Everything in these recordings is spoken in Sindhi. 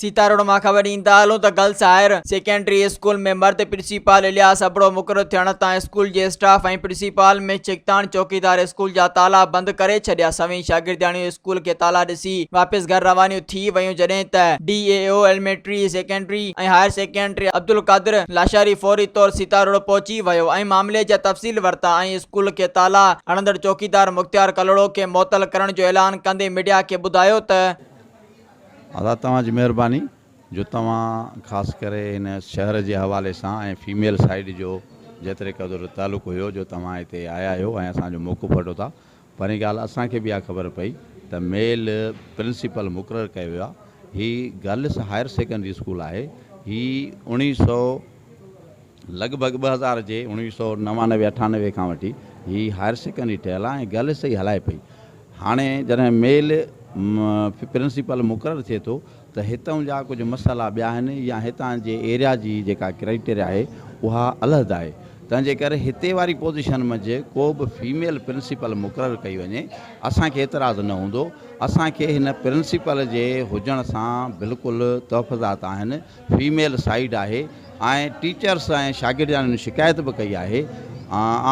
سيتاروڊ مان خبر ڏين ٿا هلون ته گرلس هائر سيڪنڊري اسڪول ۾ مرد پرنسيپال الياس ابڙو مقرر ٿيڻ تان اسڪول جي اسٽاف ۽ پرنسيپال ۾ ڇڪتاڻ چوڪيدار اسڪول جا تالا بند ڪري ڇڏيا سوين شاگردياڻيون اسڪول کي تالا ڏسي واپس گهر روانيون ٿي ويون جڏهن ته D E O elementary secondary ۽ higher secondary Abdul Qadir Lashari فوري طور سيتاروڊ پهچي ويو ۽ معاملي جا تفصيل ورتا ۽ اسڪول کي تالا هڻندڙ چوڪيدار مختيار ڪلهوڙو کي معطل ڪرڻ جو اعلان ڪندي ميڊيا کي ٻڌايو ته ادا توهان جي مهرباني جو توهان خاص ڪري هن شهر جي حوالي سان ۽ فيميل سائيڊ جو جيتري قدر تعلق هيو جو توهان هتي آيا آهيو ۽ اسان جو موقعو وٺو ٿا پھرين ڳالھ اسان کي به اھا خبر پئي ته ميل پرنسپل مقرر ڪيو ويو آھي. ھي گرلس ھائير سيڪنڊري اسڪول آھي. ھي اوڻيھ سؤ لڳ ڀڳ ٻه ھزار جي اوڻيھ سؤ نوانوي اٺانوي کان وٺي ھي ھائير سيڪنڊري ٺھيل آھي ۽ گرلس ئي ھلائي پئي. ھاڻي جڏھن ميل پرنسپل مقرر ٿئي ٿو ته هتئون جا ڪجهه مسئلا ٻيا آهن يا هتان جي ايريا جي جيڪا ڪرائيٽيريا آهي اها علحده آهي تنهن جي ڪري هتي واري پوزيشن منجهه ڪو به فيميل پرنسپل مقرر ڪئي وڃي اسان کي اعتراض نه هوندو اسان کي هن پرنسپل جي هجڻ سان بلڪل تحفظات آهن فيميل سائيڊ آهي آئين ٽيچرس ۽ شاگردياڻين شڪايت به ڪئي آهي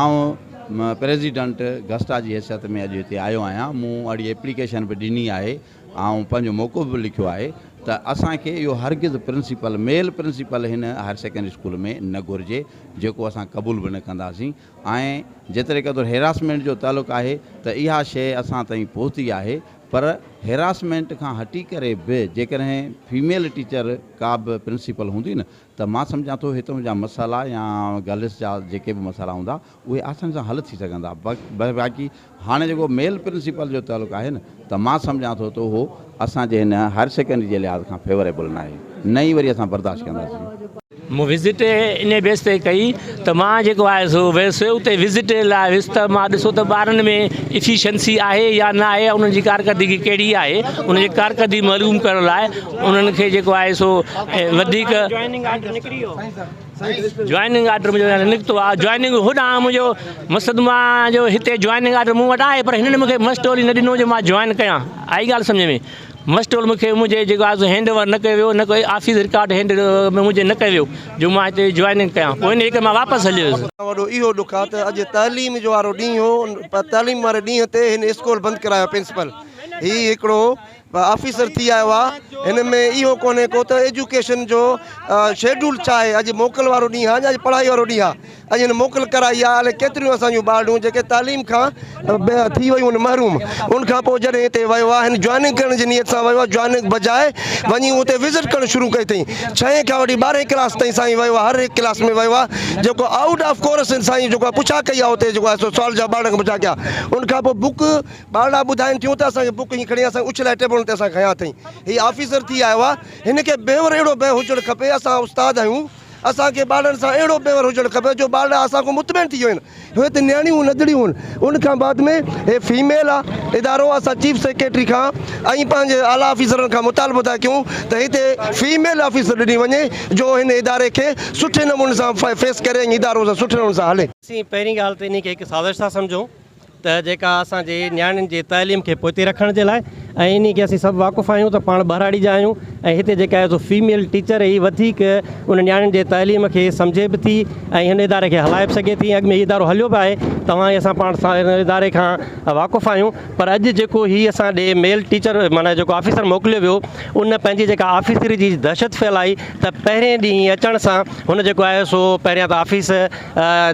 آئون پريزيڊنٽ گسٽا جي حيثيت ۾ اڄ هتي آيو آهيان مون اهڙي ايپليڪيشن به ڏني آهي آئون پنهنجو موقف به لکيو آهي ته اسان کي اهو هرگز پرنسپل، ميل پرنسپل هن هائير سيڪنڊري اسڪول ۾ نه گهرجي، جيڪو اسان قبول به نه ڪنداسين ۽ جيتري قدر هيراسمينٽ جو تعلق آهي ته اها شيء اسان تائين پهتي آهي پر هيراسمينٽ کان هٽي ڪري به جيڪڏهن فيميل ٽيچر ڪا به پرنسپل هوندي نه ته مان سمجهان ٿو هتون جا مسئلا يا گرلس جا جيڪي به مسئلا هوندا اهي آساني سان حل ٿي سگهن ٿا. باقي هاڻي جيڪو ميل پرنسپل جو تعلق آهي نه ته مان سمجهان ٿو ته اهو اسان جي هن هائر سيڪنڊري جي لحاظ کان فيوريبل ناهي نه ئي وري اسان برداشت ڪنداسين. مون وزٽ انهي بيس تي ڪئي ته مان جيڪو آهي سو ويس اتي وزٽ لاء ويس ته مان ڏسو ته ٻارن ۾ افيشنسي آهي يا نه آهي انهن جي ڪارڪردگي ڪهڙي آهي انهن جي ڪارڪردگي معلوم ڪرڻ لاء انهن کي جيڪو آهي سو وڌيڪ جوائننگ آرڊر منهنجو هينئر نڪتو آهي، جوائننگ هوڏانهن آهي منهنجو مقصد مان آهيان جو هتي جوائننگ آرڊر مون وٽ آهي پر هنن مونکي مسٽول ئي نه ڏنو جو مان جوائن ڪيان، آئي ڳالهه سمجهه ۾؟ مسٽول مونکي منهنجي جيڪو آهي سو هينڊ اوور نه ڪيو ويو نه ڪو آفيس رڪارڊ هينڊ منهنجي نه ڪيو ويو جو مان هتي جوائننگ ڪيان، پوء انهيء ڪري مان واپس هليو ويس. وڏو اهو ڏک آهي ته اڄ تعليم جو وارو ڏينهن هو، تعليم واري ڏينهن تي هن اسڪول بند ڪرايو پرنسپل هي هڪڙو آفيسر ٿي آيو آ هن ۾ اهو ڪونهي ڪو ته ايجوڪيشن جو شيڊول ڇا آهي اڄ موڪل وارو ڏينهن آ اڄ پڙهائي وارو ڏينهن آ اڄ هن موڪل ڪرائي آ الائي ڪيتريون اسان جون ٻارڙيون جيڪي تعليم کان ٿي ويون آهن محروم ان کان پوء جڏهن هتي ويو آ هن جوائننگ ڪرڻ جي نيت سان ويو آ جوائننگ بجاء وڃي اتي وزٽ ڪرڻ شروع ڪئي اٿئي ڇهين کان وٺي ٻارهين ڪلاس تائين سائين ويو آ هر هڪ ڪلاس ۾ ويو آ جيڪو آئوٽ آف ڪورس سائين جيڪو آ پڇا ڪئي آ اتي جيڪو آ سوال جواب ٻارڙن کان پڇا ڪيا ان کان پوء بوڪ ٻارڙا ٻڌائن ٿيون ته اسان کي بڪ ائين کڻي اسان کي اڇلائي ٽيبلن تي اسان کي کنيا اٿئي. هي آفيسر ٿي آيو آ. هن کي بيور اهڙو بنهه هجڻ کپي. اسان استاد آهيون. اسان کي ٻارڙن سان اهڙو بيور هجڻ کپي جو ٻارڙا اسان کان مطمئن ٿي وڃن. هي ته نياڻيون نڌڙيون آهن. ان کان بعد ۾ هي فيميل آ ادارو. اسان چيف سيڪريٽري کان ۽ پنهنجي اعليٰ آفيسرن کان مطالبو ٿا ڪيون ته هتي فيميل آفيسر ڏني وڃي جو هن اداري کي سٺي نموني سان فيس ڪري ۽ ادارو سٺي نموني سان هلي. اسين پهرين ڳالهه ته انهي کي هڪ سازش ٿا سمجهون. ته جيڪا اسان جي نياڻين جي تعليم کي پوئتي رکڻ جي لاء ۽ انهي کي اسين سڀ واقف آهيون ته پاڻ ٻهراڙي جا آهيون ۽ هتي جيڪا ايز او فيميل ٽيچر هي وڌيڪ ان نياڻين جي تعليم کي سمجهي به ٿي ۽ هن اداري کي هلائي به سگهي ٿي اڳ ۾ هي ادارو هليو به آهي توهان اسان پاڻ سان هن اداري کان واقف آهيون پر اڄ جيڪو هي اسان ڏي ميل ٽيچر معنيٰ جيڪو آفيسر موڪليو ويو ان پنهنجي جيڪا آفيسري جي دهشت ڦهلائي ته پهرين ڏينهن اچڻ سان هن جيڪو آهي سو پهريان ته آفيس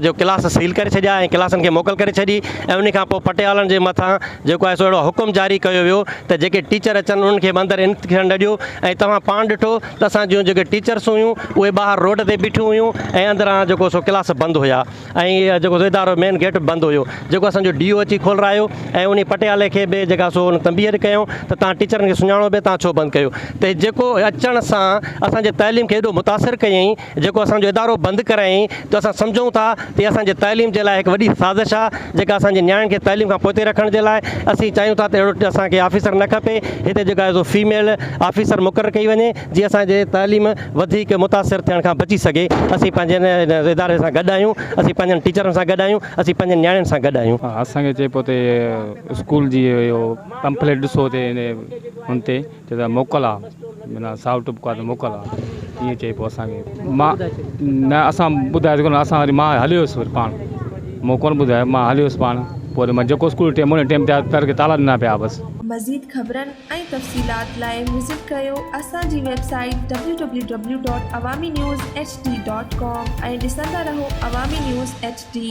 جو ڪلاس سيل ڪري ڇڏيا ۽ ڪلاسن کي موڪل ڪري ڇڏي ۽ انهي کان پوء پٽيالن جي مٿان جيڪو آهي سو اهڙو حڪم جاري ڪيو ويو ته جيڪي ٽيچر اچن انهن کي به اندر انت ٿيڻ نه ڏيو ۽ توهان پاڻ ڏٺو ته اسان جون جيڪي ٽيچرس هيون اهي ٻاهر روڊ تي بيٺيون هيون ۽ اندران جيڪو سو ڪلاس بند هيا ۽ جيڪو سو ادارو مين گيٽ به بند هيو جيڪو اسان جو ڊي او اچي کولرايو ۽ انهي پٽيالي کي به جيڪا سو ان تنبيهه ڪيائون ته توهان ٽيچرن کي سڃاڻو به توهان ڇو بند ڪيو ته جيڪو اچڻ سان اسان جي تعليم کي ايڏو متاثر ڪيائين جيڪو اسان جو ادارو بند ڪرايائين ته اسان سمجهون ٿا ته اها اسان جي تعليم جي لاء هڪ وڏي سازش آهي جيڪا اسان جي نياڻين کي تعليم کان پوئتي رکڻ جي لاء اسين چاهيون ٿا ته اهڙو اسان کي آفيسر نه کپي هتي جيڪا سو فيميل آفيسر مقرر ڪئي وڃي جي اسان جي تعليم وڌيڪ متاثر ٿيڻ کان بچي سگهي اسين پنهنجي هن اداري سان گڏ آهيون اسين پنهنجن ٽيچرن سان گڏ آهيون اسين پنهنجن نياڻين سان گڏ آهيون. اسان کي چئي پيو ته اسڪول جي اهو پمفليٽ ڏسو تي هن تي چئي ته موڪل آ معنيٰ سائو ٽپ ڪا ته موڪل آ ائين چئي پوء اسان کي مان نه اسان ٻڌايو ته ڪونه اسان وري مان هليو ويس وري پاڻ مون ڪونه ٻڌايو مان هليو ويس پاڻ پوء وري مان جيڪو اسڪول ٽيم هو ٽيم تي آيو در کي تالا ڏنا پيا بس. مزيد خبرن ۽ تفصيلات لاء وزٽ ڪريو اسان جي website W W W dot Awami news H D dot com ۽ ڏسندا رهو عوامي نيوز ايڇ ڊي.